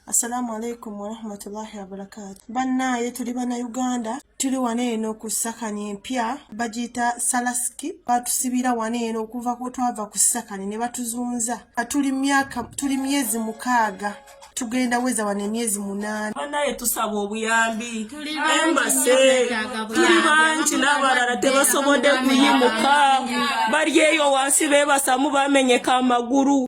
Assalamu alaikum warahmatullahi wabarakatu. Bannaaye tuli Bannayuganda, tuli wano eno ku sakani empya bagiyita Salaski. Batusibira wano eno okuva ku twava ku sakani ne batuzunza. Tuli myaka tuli myezi mukaaga tugenda weza wano emyezi munaana. Bannaaye tusaba obuyambi, tuli bangi n'abalala tebasobodde kuyimuka, bali eyo wansi beebasamu bamenyeka amagulu.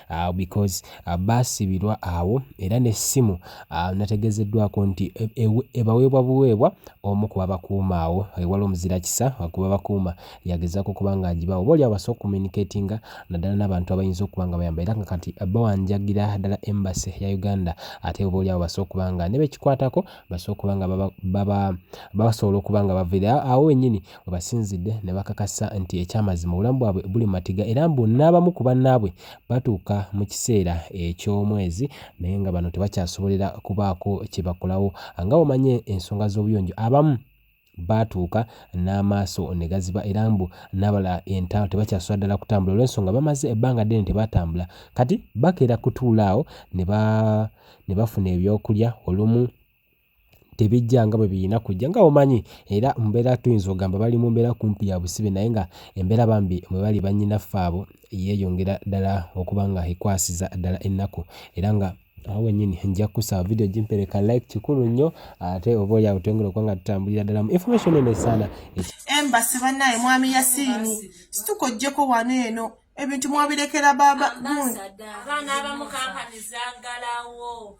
uh, because uh, baasibirwa awo era n'essimu uh, nategeezeddwako nti e, e, ebaweebwa buweebwa omu ku babakuuma awo ewala omuzira kisa kuba bakuuma yagezaako okuba nga agibawo oba oli abasobola okucommunicatinga naddala n'abantu abayinza okuba nga bayamba era nga kati bawanjagira ddala embassy ya uganda ate oba oli awo basobola okuba nga ne bekikwatako basobola okuba nga babasobola okuba nga bavira awo wenyini Webasinzidde ne bakakasa nti ekyamazima obulamu bwabwe buli mu matiga era mbu n'abamu ku bannaabwe batuuka mu kiseera eky'omwezi naye nga bano tebakyasobolera kubaako kye bakolawo nga bw'omanyi ensonga z'obuyonjo abamu baatuuka n'amaaso ne gaziba era mbu n'abalala entaalo tebakyasobola ddala kutambula olw'ensonga bamaze ebbanga ddene tebatambula kati bakeera kutuula awo ne bafuna ebyokulya olumu tebijja nga bwe birina kujja nga omanyi era mbeera tuyinza ogamba bali mu mbeera kumpi ya busibe naye nga embeera bambi mwe bali bannyinaffe abo yeeyongera ddala okuba nga ekwasiza ddala ennaku era nga awo wenyini nja kusaba video gimpereka like kikulu nnyo ate oba oli awo twengera okuba nga tutambulira ddala mu information eno esaana embasi banaye mwami yasiini situka ojjeko wano eno ebintu mwabirekera baba abaana abamukankaniza ngalawo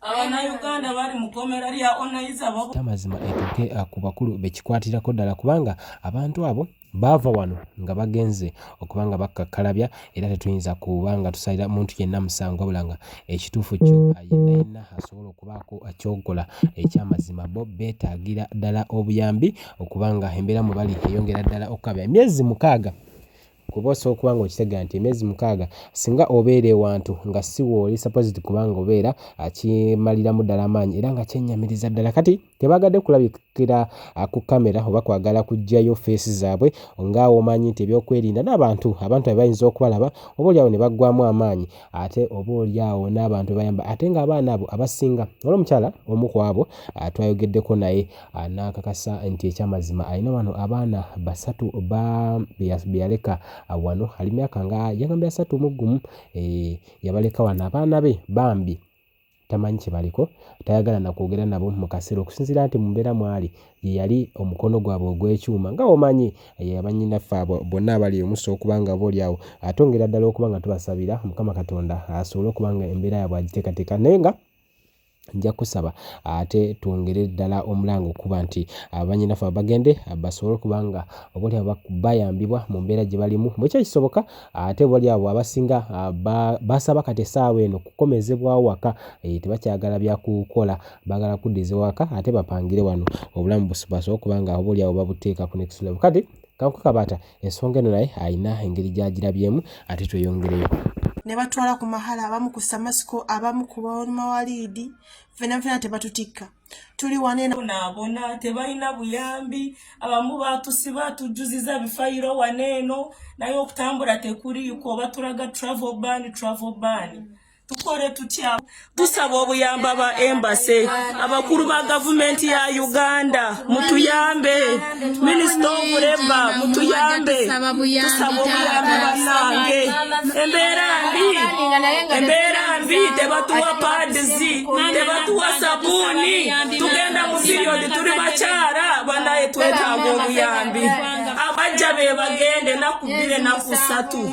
abanayuganda bali mukomera lya onayiza babo amazima etuuke ah, ku bakulu bekikwatirako ddala kubanga abantu abo baava wano nga bagenze okuba nga bakkakkalabya era tetuyinza kuba nga tusalira muntu yenna musango wabula nga ekituufu kyo ah, yenna yenna asobola okubaako kyokola ekyamazima bo beetaagira ddala obuyambi okubanga embeera mwe bali eyongera ddala okukabya emyezi mukaaga kuba osobola okuba nga okitegera nti emyezi mukaaga singa obeera ewantu nga si wooli supposed kuba nga obeera akimaliramu ddala amaanyi era nga kyennyamiriza ddala kati tebaagadde kulabikira ku kamera oba kwagala kuggyayo feesi zaabwe nga omanyi nti ebyokwerinda n'abantu abantu abe bayinza okubalaba oba olyawo ne baggwamu amaanyi ate oba olyawo n'abantu bayamba ate ng'abaana abo abasinga olwomukyala omu ku abo twayogeddeko naye Ah, n'akakasa nti ekyamazima alina wano abaana basatu be yaleka ah, wano ali myaka nga yagambye asatu mu gumu eh, yabaleka wano abaana be bambi tamanyi kyebaliko tayagala nakwogera nabo mu kaseera okusinziira nti mu mbeera mwali ye yali omukono gwabwe ogw'ekyuma nga omanyi abannyinaffe abo bonna abali omusa okuba nga oba olyawo atongera ddala okuba nga tubasabira mukama katonda asobole okuba nga embeera yabwe agiteekateeka naye nga Nja kusaba ate twongere ddala omulanga okuba nti banyinaffe abagende basobole okuba nga oboolyawo bayambibwa mu mbeera gye balimu bwe kiba kisoboka ate oboolyawo abasinga basaba kati essaawa eno kukomezebwawo waka eh, tebakyagala bya kukola baagala kuddiza waka ate bapangire wano obulamu basobole okuba nga oboolyawo babuteeka ku next level kati kankukabaata Ensonga eno naye alina engeri gy'agirabyemu ate tweyongereyo. Ne batwala ku mahala abamu ku Samasiko abamu ku bamawaliidi fena fena tebatutikka tuli wanenaabona tebalina buyambi abamu batusiba tujuziza bifayiro waneeno naye okutambula tekuriiko batulaga travel ban travel ban tukole tutya tusaba obuyamba ba embase abakulu ba gavumenti ya uganda mutuyambe minisita obuleba mutuyambe tusaba obuyambi banange embeera mbi embeera mbi tebatuwa padizi tebatuwa sabuuni tugenda mu piriyodi tuli bakyala banaye twetaaga obuyambi abajja be bagende naku bbiri naku satu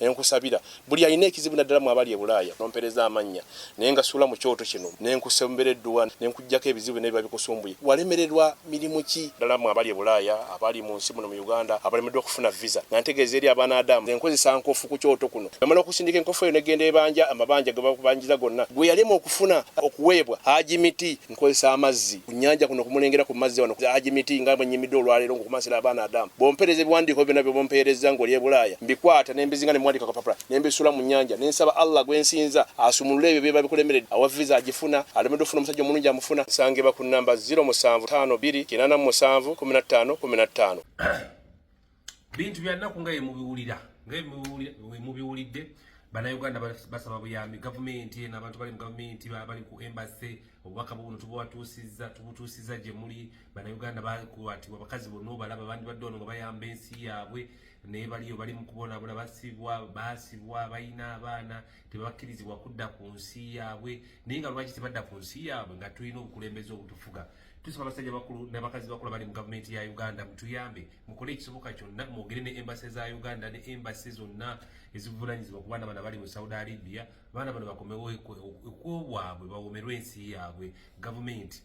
Nenkusabira buli alina ekizibu naddala mwe abali e Bulaaya nompereza amannya ne ngasuula mu kyoto kino ne nkusembera edduwa ne nkuggyako ebizibu byonna ebiba bikusumbuye. Walemererwa mirimu ki? Naddala mwe abali e Bulaaya, abali mu nsi muno mu Uganda abalemeddwa okufuna viza nga ntegeeza eri Abanaadamu nze nkozesa nkofu ku kyoto kuno namala okusindika enkofu eyo ne genda ebanja amabanja ge bakubanjiza gonna gwe yalema okufuna okuweebwa Haji Miti. nkozesa amazzi ku nyanja kuno kumulengera ku mazzi wano haji miti nga bwenyimidde olwaleero ngokumansira abaana adamu bompereza ebiwandiiko byona byebompeerezza ngoli ebulaaya mbikwata nembizinga nemuwandika kapapula nembisula mu nyanja nensaba allah gwensinza asumulule ebyo byeba bikulemeredde awa visa agifuna alemedde ofuna omusajja omulungi amufuna nsangibwa ku namba 0752 87515 bintu bya nnaku nga yemubiwulira nga wemubiwulidde bannayuganda basaba buyambi gavumenti eno abantu bali mu gavumenti bali ku embase obubaka buno tubwatuusiza tubutuusiza gye muli bannayuganda bakwatibwa abakazi bonna obalaba bandi badde ono nga bayamba ensi yaabwe naye baliyo bali mu kubonabona basibwa basibwa balina abaana tebabakkirizibwa kudda ku nsi yaabwe naye nga lwaki tebadda ku nsi yaabwe nga tulina obukulembeze obutufuga Tusaba abasajja bakulu n'abakazi bakulu abali mu gavumenti ya Uganda mutuyambe mukole ekisoboka kyonna mwogere ne embase za Uganda ne embase zonna ezivunaanyizibwa ku baana bano abali mu Saudi Arabia baana bano bakomewo ekwobwabwe bawomerwe ensi yaabwe gavumenti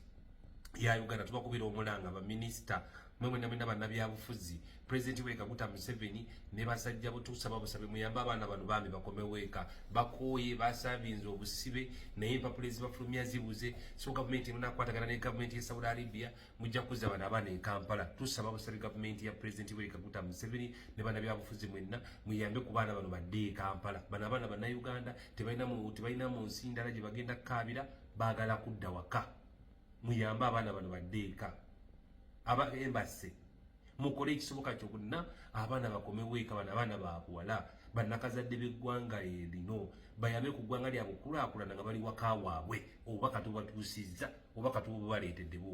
ya Uganda tubakubira omulanga baminisita mwe mwena mwena bannabyabufuzi President weka kuta Museveni ne basajja bo tusaba busabe muyamba abana bano bambi bakome weka bakoye basabinze obusibe naye empapula ezibafulumya zibuze so gavumenti emuna kwatagana ne gavumenti ya Saudi Arabia mujja kuza abana abana e Kampala tusaba busabe gavumenti ya President weka kuta Museveni ne bana byabufuzi mwenna muyambe ku bana bano badde e Kampala bana abana bana Uganda tebalina mu tebalina mu nsindala gye bagenda kabira bagala kudda waka muyambe abaana bano badde eka aba embase mukole ekisoboka kyonna abaana bakomewo eka bano abaana babuwala bannakazadde b'eggwanga erino bayambe ku ggwanga lyabwe okukulakulana nga bali waka waabwe obubaka tubatuusizza obubaka tububaleetedde bwo